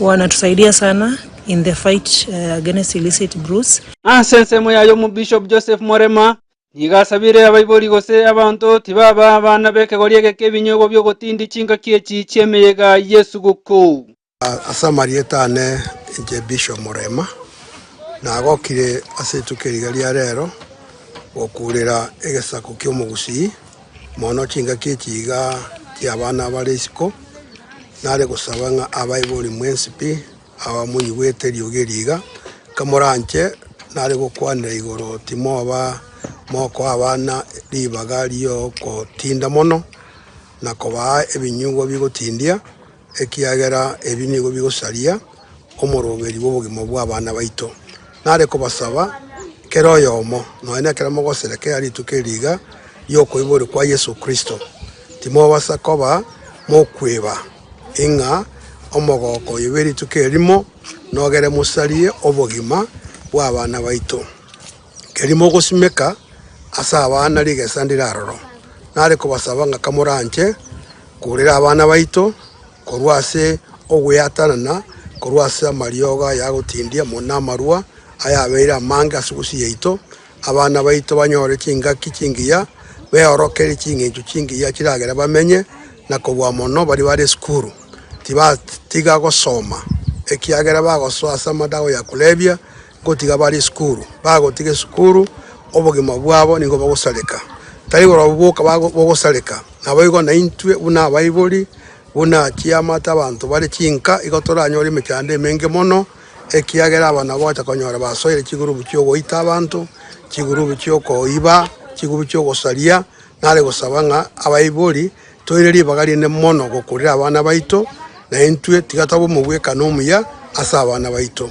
Wanatusaidia sana in the fight against illicit brews. Ase ensemo yaye omobishop Joseph Morema nigo asabire abaibori gose abanto tibaba abana b'ekegori egeke ebinyogo bi'ogotindia chingaki echi chi'emeyega y'esuguku. Ase amarieta ane inche Bishop Morema nagokire ase rituko eri riga ria rero gokuurera egesaku ki'omogusii mono chingaki echi iga chi'abana abare isiko, nare gosaba ng'a abaibori mwensi pi abamoigwete eriogi eri iga, kamoranche nare gokwanera igoro timoba mokoa abana ribaga ri'ogotinda mono, na kobaa ebinyugwa bigotindia. ekiagera ebi nigo bigosaria omoroberi bw'obogima bw'abana baito. Nare kobasaba kera oyomo, nonya nekero mogosera kera rituko eri riga ri'okoiborwa kwa Yeso Kristo, timobasa koba mokweba ing'a omogooko oye bwe rituko erimo nogere mosarie obogima bw'abana baito. Keria mogosimeka ase abana rigesa ndiraroro, nare kobasaba ng'a kamoranche korera abana baito korwa ase ogweatanana korwa ase amariogo aya agotindia, mono na amarwa ayabeire amange ase egusu yaito, abana baito banyore chingaki chingiya, beorokere ching'encho chingiya chiragere bamenye, na kobua mono baria bare esukuru tibatiga gosoma ekiagera bagosoa ase amadawa ya kulevya. Gotiga bare esukuru, bagotiga esukuru obogima bwabo nigo bogosareka, tari korwa boka bogosareka. Naboigo naintwe buna abaibori, buna chiamate abanto bare chinka, igo toranyore emechando emenge mono, ekiagera aba nabo ogocha konyora basoire chigurubu chi'ogoita abanto, chigurubu chi'okoiba, chigurubu chi'ogosaria. Nare gosaba ng'a abaibori toire ribaga rinene mono gokurera abana baito, naintwe tiga toba omogwekano omuya ase abana baito.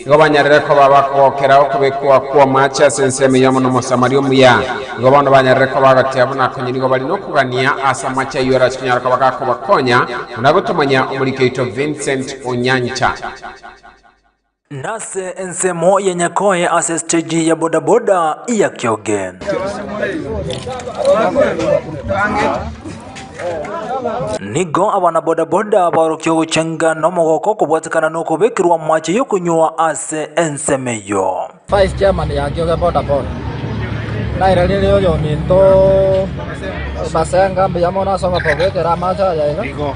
Nigo banyarire koba abakogokera okobekwa kw'omaache ase ensemo eyomo n'Omosamaria omuya. Nigo bono banyarire koba agotia buna konya nigo bari nokogania ase amache ayio arachikonyara koba gakobakonya, buna gotomanya omoriki oito Vincent Onyancha. Nase ensemo ya Nyakoe ase stage ya Boda Boda ya Kioge. Nigo abana-bodaboda baorokia ogochenga nomogoka okobwatekana nokobekerwa amache y'okonywa ase ensemo eyio. Vice chairman yaki oge boda boda naira riri oyominto ebasenga mbuya mono ase ogotobekera amache aya iga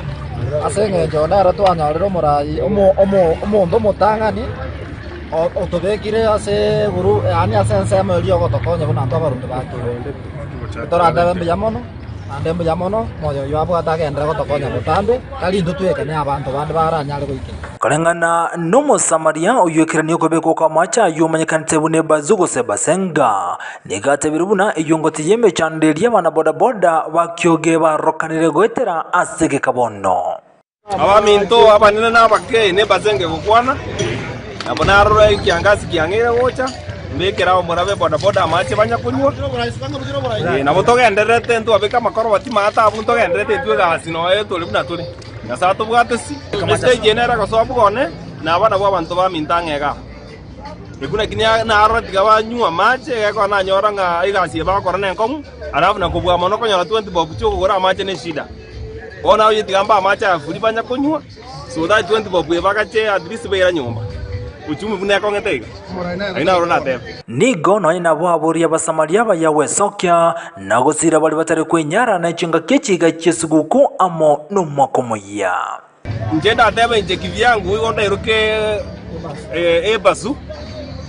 ase engencho nere twanyorire omorai omonto omotang'ani otobekire ase group yaani ase ensemo eria ogotokonya buna intwe abaruti bake toratebe mbuya mono. Naende mbuya mono moyo oyio abwate agenderere gotokonya botambe, tari intwe twekene, abanto bande baranyare goikera. Koreng'ana n'Omosamaria oyoikeranie okobekwa kw'amaache ayio omanyekanete buna ebazu gose ebasenga, nigo atebirie buna eyongoti y'emechando eria abana bodaboda bakioge barokanire goetera ase egekabono. Abaminto, abanene na abake, nembasenge gokwana, na buna aroro ekiangasi kiang'eire gocha, mbekere ao morabe bodaboda amache banya konywa. Ee, nabo togendererete ntwabeke amakoroboti maya taabu ntogendererete intwe egasi noyo tore buna tore. Nyasae atobwate ase estage eye nere gosoa bobe one na abana bw'abanto baminto ang'e iga. Ekuna ki na- narora tiga banywa amache egekora nanyora ng'a egasi eye bakora nenkong'u, alafu na kobua mono okonyora 20 bob chi'okogora amache neshida. Bono abayetigamba amache aya buri banya konywa, so that twenty bob ebagache at least baira nyomba. Uchumi buna ekong'ete iga. Aye naro natebe. Nigo nonya nabo aboria Abasamaria baya gwesokia na gosiira baria batari kwenyara ne chingaki echiga chi'esiguku amo nomwaka omoyia. Inche ndateba inche kivyangu, igo ndairoke ebasu,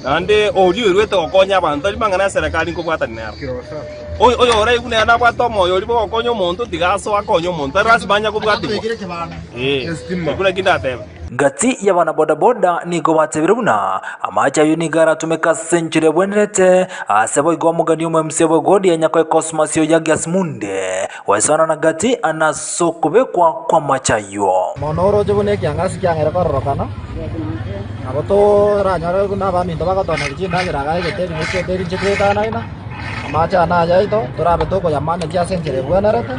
naende oria oirwete gokonya abanto aria mang'ana ya Serekari nkobwatani nero. Oyoraigu nere nabwate omoyo oria bw'ogokonya omonto, tiga asoe akonye omonto, tari lasima anye kobwatigwa. Ee, ekio nakio ndateba. Gati y'abana bodaboda nigo batebire buna amache ayio nigo aratomeke ase enchera ebwenerete, ase boigo omogani omoyomosio bw'Egodia Nyakoe Cosmas Oyagi Asmundee, Goesanana gati nas'okobekwa kw'amache ayio. Mono oroche buna ekiang'asi kiang'aire kororokana, nabo toranyore buna abaminto bagotoneria chindagera agaegete ring'iti eke rinche twaetanaina, amache aya nayaito, torabe tokoyamanyekia ase enchera ebwenerete,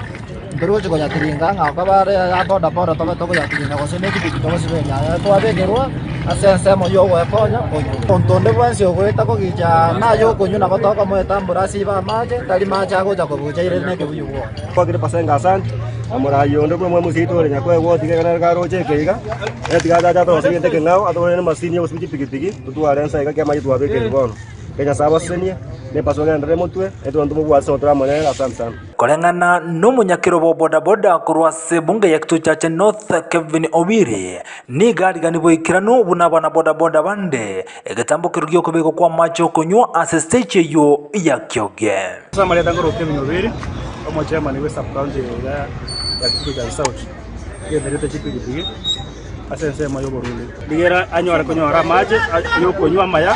ntorigochi koyatiringa ng'a kobe are aya boda boda tobe tokoyatiringa gose nepikipiki togosiba eria aya twabekerwa ase ensemo y'ogoekonya oyio. Omonto onde bwensi ogoeta kogicha naye okonywa nabo tokomoeta mboro ase ibe amache, tari mache agocha kobua. Kwakire Pasaka ase anche, na moraai onde buna omwami oseito ore nyakoegwa ogotiga igana na karoche ekeiga, na tiga achache atogose gento ekeng'ao, atogorere nemasini y'obosibia chipigipigi, totware ensa iga ki'amaicho twabekeirwe bono. Inche Nyasae abasesenie, ne Pasaka endere emotwe, ne twanto mobwate ase ogotera amo nere. Asante sana. Koreng'ana n'omonyakero bwa bodaboda korwa ase ebunge ya Kituchache North Kevin Owiri nigo ariganiwe boikeranu buna abana bodaboda bande Egetambokero gi'okobegwa kw'amache okonywa ase stage eyio ya Kyoge. Samarieta ngoroka ebinywa bibere, omochemani bwe subcounty eria ya Kipchoge South ogenderete chipigipigi ase ensemo y'oborundi. Rigera anyare konyora amache y'okonywa amaya,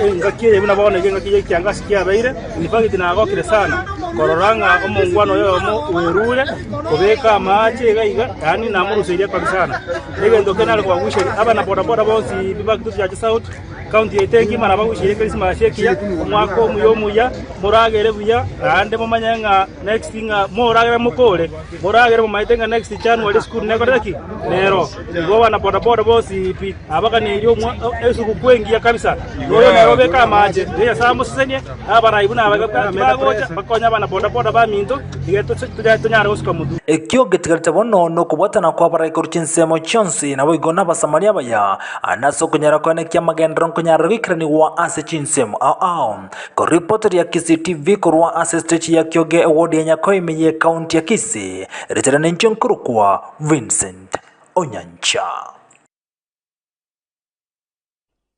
engaki eye buna bono nigo engaki y'ekiangasi kiabeire, in fact nagokire sana korora ng'a omongwana oyomo bwerure kobeka amache iga iga, yaani namoruseirie kobi sana. Negento kenare kobagucheria abana boda boda bonsi ba Kitutu Church South, County yaito engima nabagucherie Christmas ekiya, omwaka omuya omuya, moragere buya naende momanye ng'a next ng'a moragere moka ore, moragere momaete ng'a next January esukuru nekorire ki? Nero. Igo abana boda boda bonsi pi nabaganeirie omwa- esugukuu engiya kabisa. Noyo nere obeke amache, Nyasae amosesenie. na abaraibu na abagabe b'engaki bagocha bakonye abana bodaboda baminto, nigo toche tonya- tonyare gosuka motu. Ekio getigarete bono nokobwatana kw'abarai korwa chinsemo chionsi, naboigo n'Abasamaria abaya, na ase okonyora kwane kia amagenderero nkonyarire goikeranigwa ase chinsemo ao ao. Korwa ripotoria ya Kisii TV korwa ase estechi ya Kioge ewodi ya Nyakoime ye ekaunti ya Kisii, riche riane inche nkorokwa Vincent Onyancha.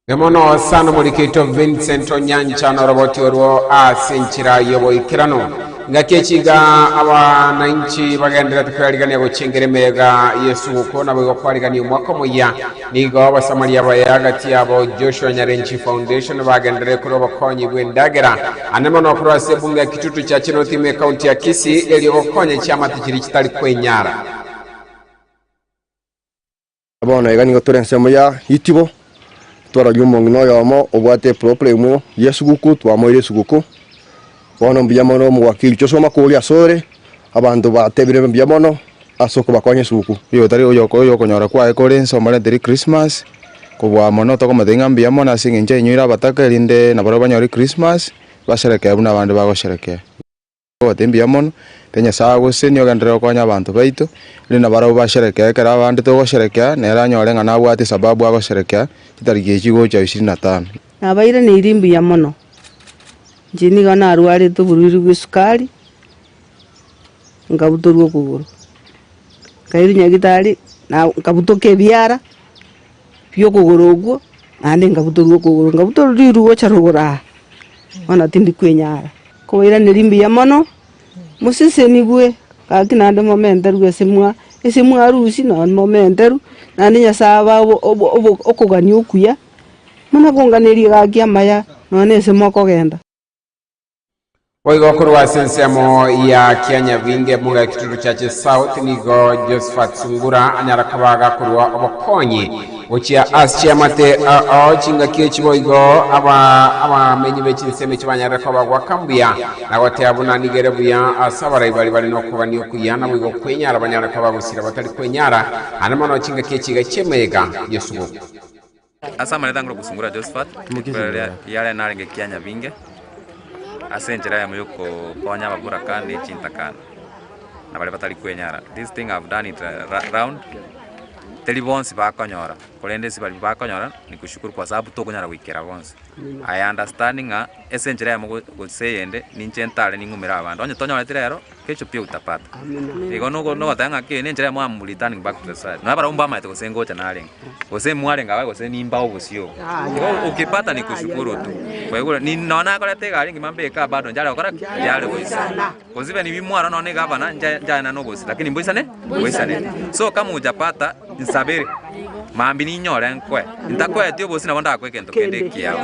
Emono sana omorikito Vincent Onyancha noroboti orwo ase enchera y'oboikeranu. Ngaki echi iga abanainchi bagenderete kwerarigania gochengera emeega y'esugukuu naboigo kwarigania omwaka omoyia. Nigo abasamari abaye agati yabo Joshua Nyarenchi Foundation bagenderere korwa obokonyi bw'endagera ande mono korwa ase ebunge ya Kitutu Chache North ime ekaunti ya Kisii erio gokonya chiamate chiria chitari kwenyara. Bono iga nigo tore ensemo ya itibo, twarorire omong'ina oyomo obwate eproblemu y'esuguku, twamoira esuguku. Bono mbuya mono omogwaki riicho ase omwaka oria asore, abanto batebire mbuya mono ase okobakonya esuguku. Igo tari oyokonyora kwaye kore inse omorente ri Christmas, kobua amo nao tokomotebi ng'a mbuya mono ase eng'encho yainyoire abataka erinde nabarabwo banyore Christmas, basherekee buna abande bagosherekea. Tobwate mbuya mono, ere Nyasae agosesenie ogenderere gokonya abanto baito, erinde nabarabwo basherekee ekero abande togosherekea, nere anyore ng'a nabwate esababu agosherekea chitariki echi gocha ishirini na tano. Nabairaneirie mbuya mono, inche nigo narwarete oboruiri bw'esukari, nkabutorwa okogoro, nkairwa nyagitari, na nkabutoka ebiara. bi'okogoro okwo, naende nkabutorwa okogoro, nkabutorwa riru gocha rogoro aa, bono tindi kwenyara. Nkobairaneria mbuya mono, mosesenigwe, gaki naende momenterwe esemwa, esemwa arusi nonye momenterwe, naende Nyasae abae okogania okuya, buna konganeria gaki amaya, nonye na esemwa kogenda. Boigo korwa ase ensemo ya Kianyabinge Muga Kituru Church South nigo Josephat Sungura anyara kobaga korwa obokonyi gochia ase chiamate ao chingaki echi boigo aba abamenyi be chinsemo echi banyarire koba goaka mbuya na goteba buna nigere buya ase abarai bari bare nokogania okuya na boigo kwenyara banyare koba gosira batari kwenyara ande mono chingaki echi iga chi'emeyega y'esuguku. Ase amanete angorwa gosungora Jehoshafati, rikorero riria riarenge narenge ekianya binge, ase enchera yamo y'okokonya ababoraka ne chintakana, na baria batari kwenyara. This thing I have done it ra- round, teri bonsi bakonyora, korende ase baria bakonyora, nikushukuru kwa sababu tokonyara goikera bonsi. I understand ng'a ase enchera yamo go- gose eyende, ninche ntare ning'umere abanto. Onye tonyoreti rero, Kesho pia utapata. Igo nogo- nogoteba ng'a ki nenchera yamo am returning back to the society. Nonya barabwo mbamaete gose ngocha narenge. Gose mwarenge abaye gose nimba obosio. Igo ukipata ni kushukuru tu. Kwaigure, ni nonya nakoreta egari ngima mbeka bado nchare gokora ki? Nchare goisana. Gose even bi mwarwa nonya na egavana ncha- nchaena nobosie lakini mboisane. ngoisanete. Soka muucha Pata, insabere, mambia ninyore nkoe. Intakoeti obosie nabo ndakoe egento kende ekiao.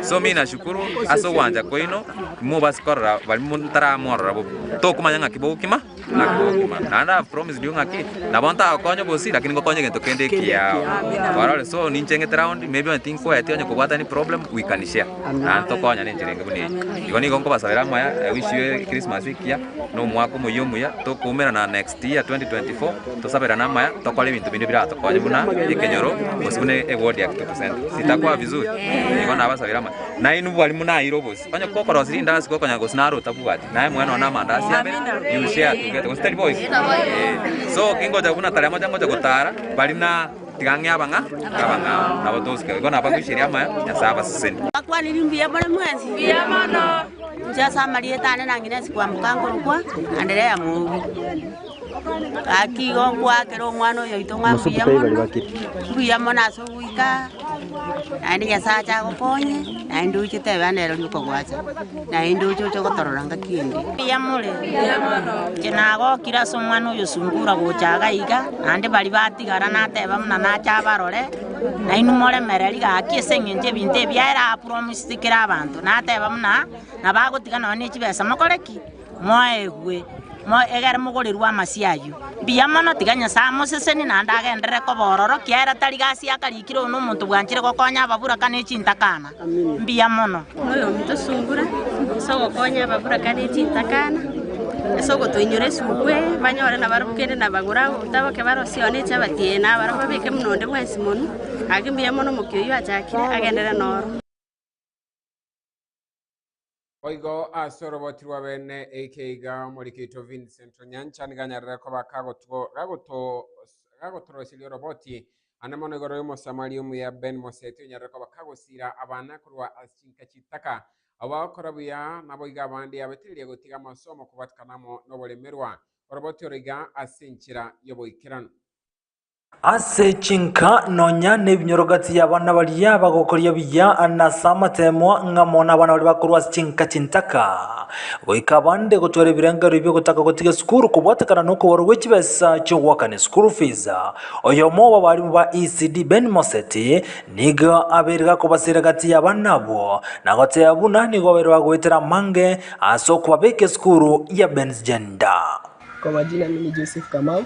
So mina shukuru ase ogwancha kwaino, imobasi korora barimo ntaramorora bobe. Tokomanya ng'aki bogokima, ng'aki bogokima. Naende I have promised you ng'aki, nabo ntagokonya obosie, lakini ngokonya egento kende ekiao. Barore, so ninche ng'ete round, maybe onye tinkoeti onye kobwata any problem, we can share. Naende tokonyane enchera enge buna eye. Igo nigo nkobasabera amaya, I wish you a Christmas ekiya. Nomwaka omoyia omuya tokoumerana next year 2024 tosaberane amaya tokore ebinto binde biratokonye buna ekenyoro gose buna ewodi ya kituko central sitakwa vizuri nigo nabasabire amaya nainwe bwari munaire obosie onye kokorosire indasi gokonyara gose nare otabwati naye mwenao na amandasi abe you share together gose tari boigo? Eeh so kingocha buna tari amache ngocha gotara bari na Tiga ng'e abang'a abang'ao nabo tosike goika nabagoicheria amaya Nyasae abaseseni. Mbakwaniri mbuya more mwensi. Mbuya mono. Inche ase amarieta ane nang'inesi kwamoka nkorokwa Anderea Mwobi. Gaki igo nkoakera omwana oyoito ng'a mbuya mono, mbuya mono ase ogoika. Naende Nyasae ache agokonye, naende oiche tebe ande ero rioka gwacha, naende oiche oche gotorora ngaki ende. Mbuya more. Inche nagokire ase omwana oyo sungura gocha iga iga, naende baria batigara nateba buna nache abarore, nainwe moremereri gaki ase eng'encho ebinto ebi biaera aa promised kera abanto, nateba buna nabagotiga nonya ne chibesa mokore ki? Moegwe, egere mogorerwe amasio ayio. Mbuya mono, tiga Nyasae amosesenie, naende agenderere koba ororo, kiagera tari gasi akarikire oyo nomonto bwanchire gokonya ababuraka ne chintakana. Mbuya mono. Moyo ominto sungura ase ogokonya ababuraka ne chintakana, ase ogotoinyora esuku eye, banyore nabarabwo kende nabagore agwo botaboke bare ase one eche abatie ee nabarabwo babeke buna onde bwensi monwe. Gaki mbuya mono omokia oyio achakire, agenderere noro. Boigo ase oroboti rwa bene eike iga Omorikito Vincent Onyancha nigo anyarire koba kagotu- gagotos- gagotoroseria oroboti ande mono igoro y'omosamaria omuya Ben Moseti onyarire koba kagosiira abana korwa ase chinka chitaka. Abo bagokora buya naboigo abande yabateneria gotiga amasomo kobwatanamo noboremerwa. Oroboti oro iga ase enchera y'oboikeranu. Ase chinka nonya nebinyoro gati y'abana baria bagokoria buya na ase amateemwa ng'a mono abana baria bakorwa ase chinka chintaka, goika abande gotwara ebirengererio bi'ogotaka gotiga esukuru kobwatekana nokobarwa gwe chibesa chi'ogoakana eschool fees. Oyomo bw'abarimu ba ECD Ben Moseti nigo abeire gakobaseera gati y'abana abwo na goteeba buna nigo babeire bagoetera amange ase okobabeka esukuru ya Ben's Gender. Kwa majina mimi Joseph Kamau.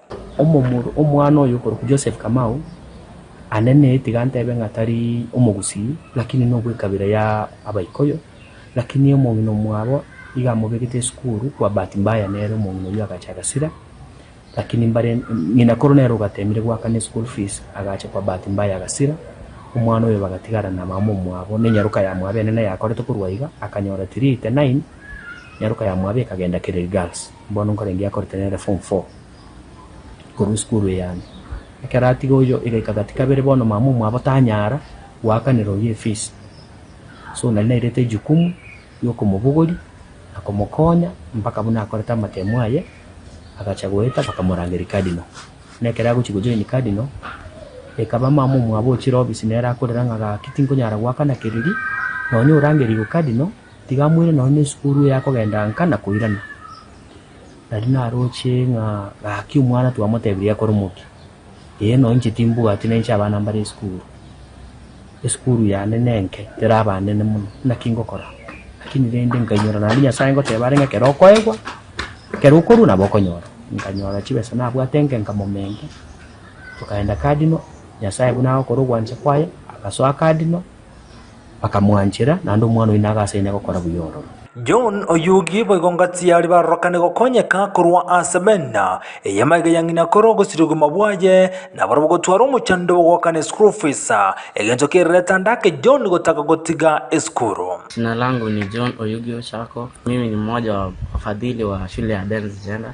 Omomura omwana oyo okorokwa Joseph Kamau, ane ne tiga ntebe ng'a tari omogusii, lakini nobwe kabira ya abaikoyo, lakini omong'ina omwabo iga amobegete esukuru kwa bahati mbaya nere omong'ina oyio agacha agasira, lakini mbare ng'ina koro nere ogatemire goakana eschool fees agacha kwa bahati mbaya agasira, omwana oyo bagatigara na mama omwabo ne nyaroka ya mwabo enene yakorete korwa iga akanyora three eighty nine nyaroka ya mwabo ekagenda Kiriri Girls. Bono nkorenge akorete nere form four korwa esukuru eyane. Ekero atiga oyio igaika gati kabere bono mama omwabo tanyara goakanera oyio efees. So nari nairete ejukumu ya okomobogoria na komokonya mpaka buna akorete amatemo aye agacha goeta bakamorangeria cardinal. Na ekero agochia go join cardinal ekaba mama omwabo ochire obisi nere akorera ng'a gaki tinkonyara goakana kereri nonya orangerigwe cardinal. Tiga moire nonya nesukuru eye akogenda nka na koirana. Nari naroche ng'a gaki omwana twamotebirie akore omokia. Ee nonya inche timbwati na inche abana mbare esukuru. Esukuru yane nenke teraba nene mono. Naki ngokora? Lakini rende nkainyora naende Nyasae ngoteba are ng'a ekero okoegwa, ekero okorua nabo okonyora. Nkanyora chibesa nabwate nke nkamomenga, tokaenda Cardinal, Nyasae buna agokora ogwancha kwaye, agasoa Cardinal. bakamwanchera, naende omwana oyio nagaseine gokora buya ororo. John oyugi boigo ngati aria barorokane gokonyeka korwa ase bena eye magega ya ng'ina kore ogosiri obogima bwaye nabarabwo gotwara omochando bw'ogoakana esukuru fees, egento kererete ande ake John gotaka gotiga esukuru. Jina langu ni John Oyugi Ochako, mimi ni mmoja wa wafadhili wa shule ya Dens Gender.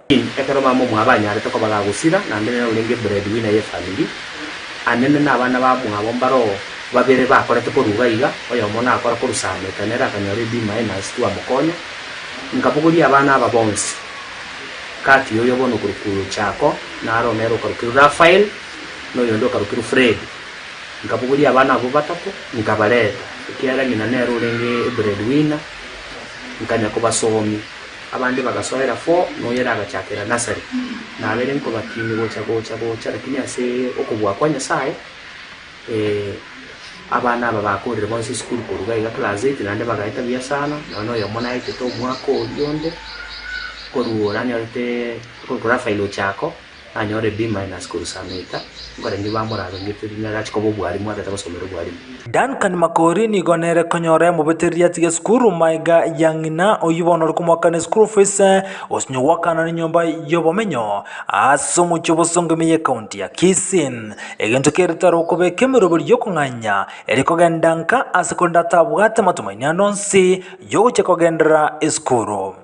Ekero mama omwabo anyarete koba gagosira, na nere naro orenge breadwinner y'efamiri, Anene na abana bamwabo mbaro babere bakorete koruga iga, oyomo nakora korusameta, nere akanyora ebima aye nase twamokonya. Nkabogoria abana aba bonsi. Kati y'oyo bono okorokirwe Chako, naro nere okarokirwe Raphael, na oyonde okarokirwe Fred. Nkabogoria abana abwo batato, nkabareta, ekiagera ng'ina nere orenge ebreadwinner, nkanya kobasomia. Abande bagasoera fo, na oyere agachakera Nasari, na abere nkobatini gocha gocha gocha, lakini ase okobua kwa Nyasaye, abana aba bakorire bonsi esukuru korwa gaiga class eight, naende bagaeta buya sana, nonye na oyomo naetete omwaka oria onde, korwa oranyorete, korwa file ochako, Nanyore B minus korwa saa moika, nkorenge bamorarongete rinde agachi koba obwarimu agete gosomera obwarimu. Duncan Makori nigo nere konyora emobetereri atige esukuru maega ya ng'ina oyio bono ore komoaka ne school fees gosinywa goakana ne nyomba yobomenyo ase omochie obosongo ime ye county ya Kisii. Egento kere tare okobeka emeroberio yokong'anya eri kogenda nka ase korende atabwate amatumaini ande onsi yogochia kogenderera esukuru.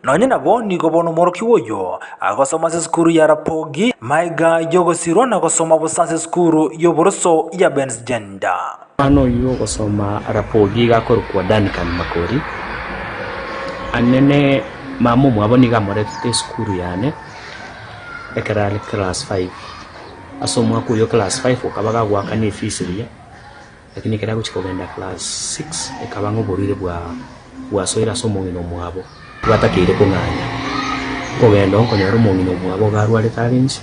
Nonye nabo nigo bono omworokigwa oyio agosoma ase esukuru ya Rapogi, Maega y'ogosirwa na gosoma bosa ase esukuru y'oboroso ya Bensgender. Omwana oyio ogosoma Rapogi iga akorokwa Duncan Makori, Anene mama omwabo nigo amoretete esukuru yane ekero are class five. Ase omwaka oyio o class five okaba gagoakana efees eria. Lakini ekero agochia kogenda class six ekaba ng'a oborwaire bwasoire ase omong'ina omwabo, tibatakeire kong'anya nkogenda oo nkonyora omong'ina omwabo iga arwarete are inse,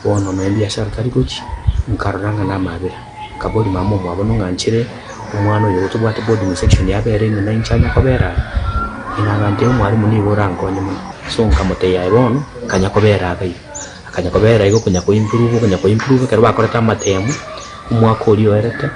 bono nonye biashara tari gochia, nkarora ng'a namabera, nkaboria mama omwabo nong'anchire omwana oyo tobwate boarding section yabera ime na inche anya kobera aa? Ng'ina agantebia omwalimu nigo orankonye mono. So nkamotebia aye bono nkanya kobera abaiga, akanya kobera igo okonyia ko improve, okonyia ko improve ekero bakorete amatemu. Omwaka oria oerete,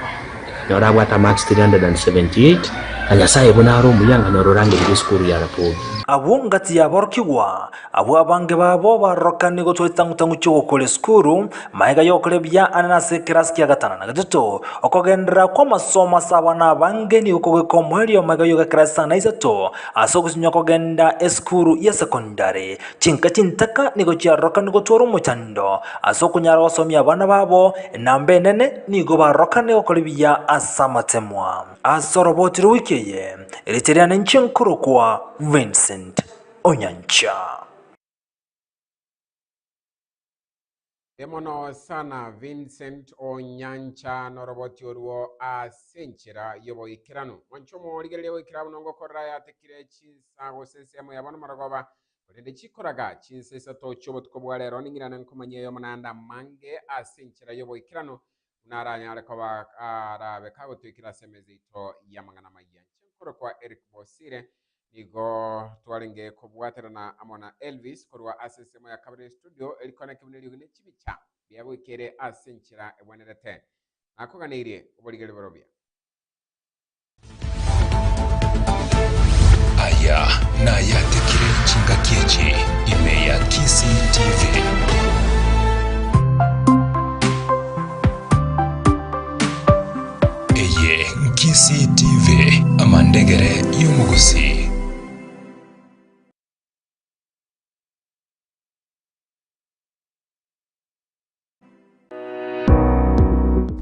ekanyora abwate amarks 378, na Nyasae buna are omuya ng'a noro orangereria esukuru ya Rapogi. Agwo ngati y'aborokigwa abwo abange babo barorokanie gotoa chitang'u-tang'u chi'ogokora esukuru, magega y'ogokora buya Anne nase ekerasi kia gatano na getato. Okogenderera kw'amasomo ase abana abange nigo kogweka omoerio magega y'ogekerasi sana isato ase ogochinywa kogenda esukuru ya secondary. Chinka chintaka nigo chiarorokanire gotwara omochando ase okonyara gosomia abana babo, na mbenene nigo barorokanire gokora ebiya ase amatemwa. Ase oroboti rwa wiki eye, riche riane inche nkorokwa Vincent Onyancha. Emono sana Vincent Onyancha noroboti oruo ase enchera yoboikeranu. Mwancha omorigereria goikera buna ngokorera ayatekire chinsa gose ensemo yabo nomoragoba, korende chikoraga chinsa isato chiobotuko bwa rero ning'irane nkomanyia eyomo naende amange ase enchera yoboikeranu buna aranyare koba arabe kagotwekire ase emeza yaito y'amang'ana amayia. Inche nkore kwa Eric Bosire, nigo twarenge kobwaterana amo na Elvis korwa ase ensemo ya kabere y'estudio eri kona ekibe neriogi ne chibicha bia goika ere ase enchera egwenerete. Nakoganeirie, oborigererio borobia. Aya nayatekire chingaki echi ime ya Kisii TV. Eye Nkisii TV amandegere y'omogusii.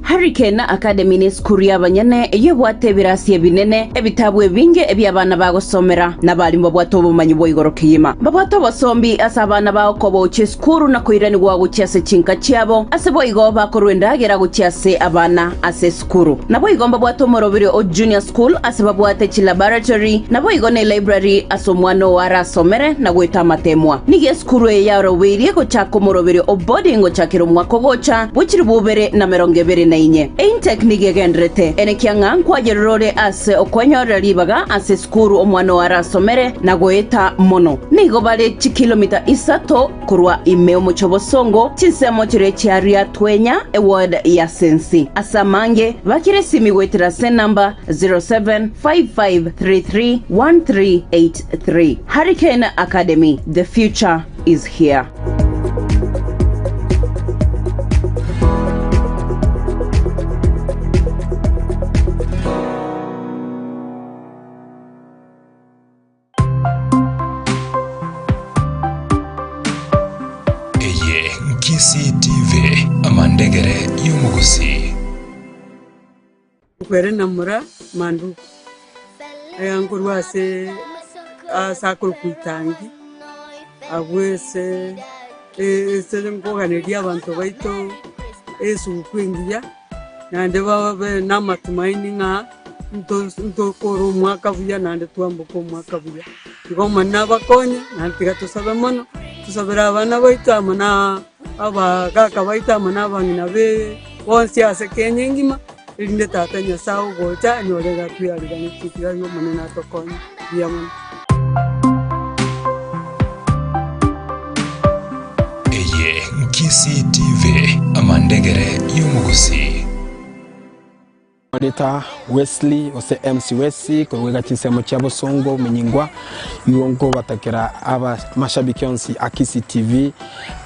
Hurricane Academy nesukuru y'abanyene, eyio ebwate ebirasi ebinene, ebitabu ebinge ebia abana bagosomera, na abaalimu babwate obomanyi bwa igoro kegima. Mbabwate obosombi ase abana bao kobaochia esukuru na koiranigwa gochia ase chinka chiabo, ase boigo bakorua endagera gochia ase abana ase Cukuru. Naboigo mbabwate omorobiri o Junior School ase babwate chilaboratory, naboigo ne library ase omwana oo arasomere na goeta amateemwa. Nigo esukuru eye yarobeirie gochaka omorobiri o boarding gochakera omwaka ogocha bwe chilifu ibere na merongo ebere na inye. Eintake nigo egenderete ene kiang'a nkwayerora ore ase okwenyorera ribaga ase esukuru omwana oo arasomere na goeta mono. Nigo bare chikilomita isato. Korwa ime omochie obosongo, chinsemo chiria chiaria twenya eword ya sensi. Ase amange, bakire esimi goetera ase enamba 0755331383. Harry Kane Academy, the future is here. Eye Nkisii TV, amandegere y'omogusii. Kwere na mura manduku aya nkorwa ase ase akoro kwitangi abwo ese e- ese nkoganeria abanto baito esuku engiya naende babe namatumaini ng'a Ntokora omwaka buya naende twamboka omwaka buya. Igo Omonene nabakonye, naende tiga tosabe mono, tosabere abana baito amo na abagaaka baito amo na abang'ina baito bonsi ase Kenya engima, erinde Tata Nyasae ogocha anyore iga twarigenetie. Tiga igo Omonene atokonye buya mono. Eye Nkisii TV, amandegere y'omogusii. Rita Wesley, gose MC Wesi, korwa goika chinsemo chia bosongo ominyingwa, nigo nkobatakera aba mashabiki onsi a Kisii TV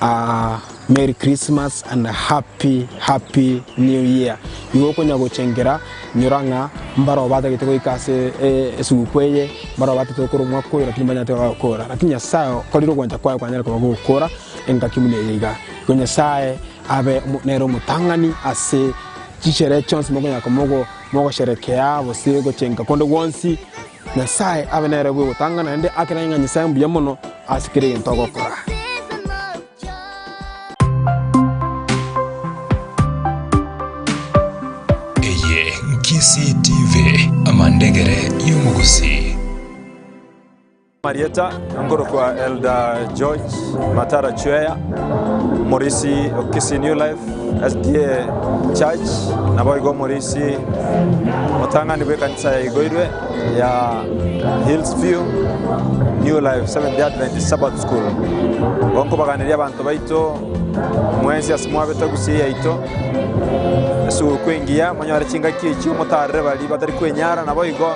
ah, Merry Christmas and Happy Happy New Year. Nigo okonya gochengera nyora ng'a mbaro obatagete goika ase eh, esuguku eye mbaro obatete gokora omwaka oyo lakini mbanyate gokora lakini Nyasaye okorire ogwancha kwaye kwanyare koba gokora engaki buna eye iga. Igo Nyasaye abe omo- nere omotang'ani ase Chisherehe chionsi mokonyara komogo mogosherekea gose gochenka konde gwonsi, Nyasae abe nere bwe gotang'ana naende akeranye ng'a Nyasae mbuya mono ase kera egento agokora. Eye Nkisii TV, amandegere y'omogusii. Amarieta, nkorokwa Elder George Matara Chweya, omorisi o Kisii New Life SDA Church, naboigo omorisi omotang'ani bw'ekanisa yaigoirwe ya Hills View New Life Seventh Day Adventist Sabbath School. Igo nkobaganeria abanto baito mwensi ase mwabete Gusii yaito, esugukuu engiya, monyore chingaki echio, motaarere baria batari kwenyara, naboigo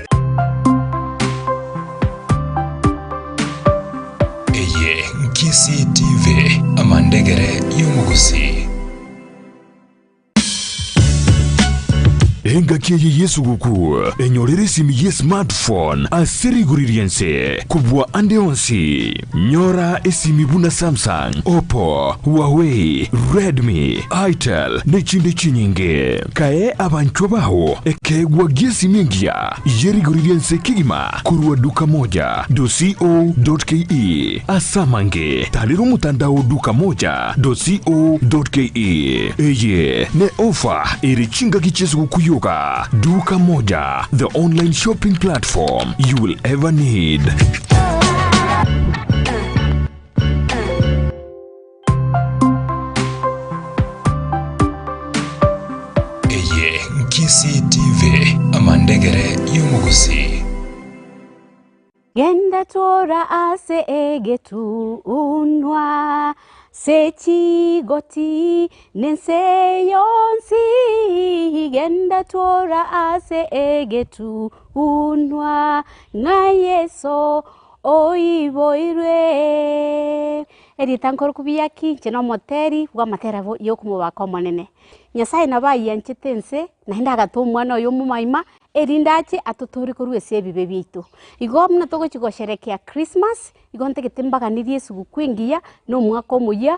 Eye Nkisii TV, amandegere y'omogusii. engaki eye yesuguku enyorere esimi ye smartphone ase rigori ri'ense kobua ande onsi. Nyora esimi buna Samsung, Oppo, Huawei, Redmi, Itel, ne chinde chinyinge. Kae abanchwa bao ekeegwa gi'esimi engiya y'erigori ri'ense kegima korwa Dukamoja. Co. Ke Ase amange, tarera omotandao Dukamoja. Co. Ke Eye ne ofa ere chingaki chi'esogokuu yoka. Dukamoja, the online shopping platform you will ever need. Eye Nkisii TV, amandegere y'omogusii. Genda tora ase egetunwa se chigoti Nense yonsi genda twora ase egetunwa ng'a Yeso oiboirwe. Eritanko rokobia ki? Inche nomoteri bw'amatera yokomobaka Omonene. Nyasaye nabo ayianchete ense, naende agata omwana oye omomoima, erinde ache atotore korwa ase ebibe biaito. Igo buna togochi gosherekea Christmas, igo ntagete mbaganerie esuguku engiya na omwaka omoyia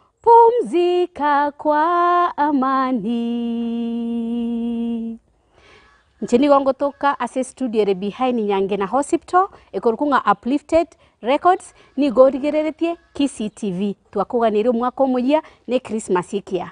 Pumzika kwa amani. Inche nigo ngotoka ase estudio ere behind Nyangena Hosptal, ekorokwa ng'a Uplifted Records, nigo origereretie Kisii TV. Twakoganeire omwaka omoyia, ne Christmas ekiya.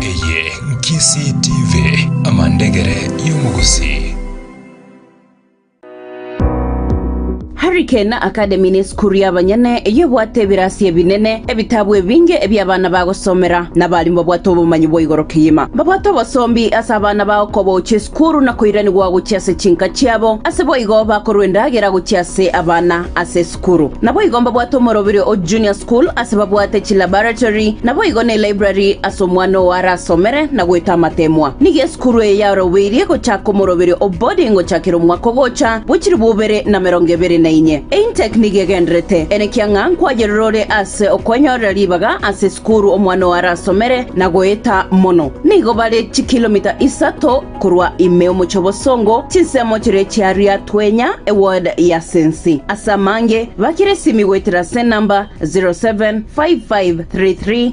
Eye Nkisii TV, amandegere y'omogusii. Harry Kane Academy nesukuru y'abanyene eyio ebwate ebirasi ebinene, ebitabu ebinge ebia abana bagosomera, na abalimu babwate obomanyi bwa igoro kegima. Babwate obosombi ase abana bao kobaochia esukuru na koiranigwa gochia ase chinka chiabo, ase boigo bakorwa endagera gochia ase abana ase esukuru. Sukuru. Naboigo mbabwate omorobiri o Junior School ase babwate chilaboratory, naboigo ne library ase omwana oo arasomere na goeta amateemwa. Nigo esukuru eye yarobeirie gochaka omorobiri o boarding gochakera omwaka ogocha bwe chilifu ibere na merongo ebere na inye. Eintake nigo egenderete ene kiang'a nkwayerora ore ase okwenyorera ribaga ase esukuru omwana oo arasomere na goeta mono. Nigo bare chikilomita isato. Korwa ime omochie obosongo, chinsemo chiria chiaria twenya eword ya sensi. Ase amange, bakera esimi goetera ase enamba 0755331383.